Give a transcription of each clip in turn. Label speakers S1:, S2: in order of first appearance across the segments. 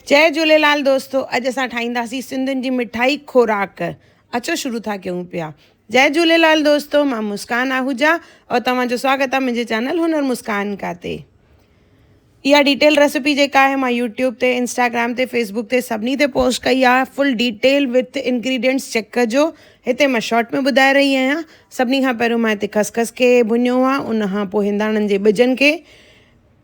S1: جئي جھوليلال دوستو اڄ اسان ٺاھينداسين سنڌين جي مٺائي خوراڪ اچو شروع ٿا ڪيون پيا جئي جھوليلال دوستو مان مسڪان آھوجا اور توھان جو سواگت آ منھنجي چينل ھنر مسڪان کا تي اھا ڊيٽيل ريسپي جيڪا آھي مان يوٽيوب تي انسٽاگرام تي فيسبوڪ تي سڀني تي پوسٽ ڪئي آ full detail with ingredients check ڪجو ھتي مان شارٽ ۾ ٻڌائي رھي آھيان سڀني کان پھريون مان ھتي خسخس کي ڀنيو آ ان کان پوء ھنداڻن جي ٻجن کي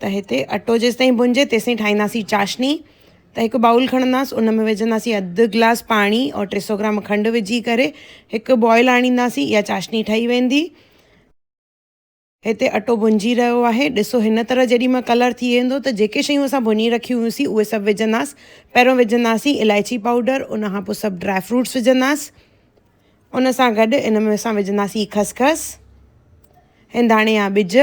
S1: ته هتي اٽو جيستائين ڀونجي تيستائين ٺاهينداسين چاشني ته هڪ بائول کڻنداسين ان ۾ وجهنداسين اڌ گلاس پاڻي اور ٽي سو گرام کنڊ وجهي ڪري هڪ بوائل آڻينداسين اها چاشني ٺهي ويندي هتي اٽو ڀونجي رهيو آهي ڏسو هن طرح جيڏي مهل ڪلر ٿي ويندو ته جيڪي شيون اسان ڀوني رکيون هيوسين اهي سڀ وجهنداسين پهريون وجهنداسين الائچي پائوڊر ان کان پوء سڀ ڊرائي فروٽس وجهنداسين ان سان گڏ ان ۾ اسان وجهنداسين خسخس هنداڻي يا ٻج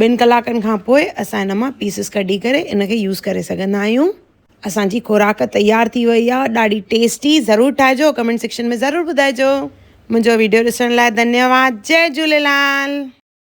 S1: ٻن ڪلاڪن کان پوء اسان ان مان پيسز ڪڍي ڪري ان کي يوز ڪري سگهندا آهيون اسانجي خوراڪ تيار ٿي وئي آهي ڏاڍي ٽيسٽي ضرور ٺاهجو ڪمينٽ سيڪشن ۾ ضرور ٻڌائجو منهنجو ويڊيو ڏسڻ لاء ڌنيواد جئي جهوليلال.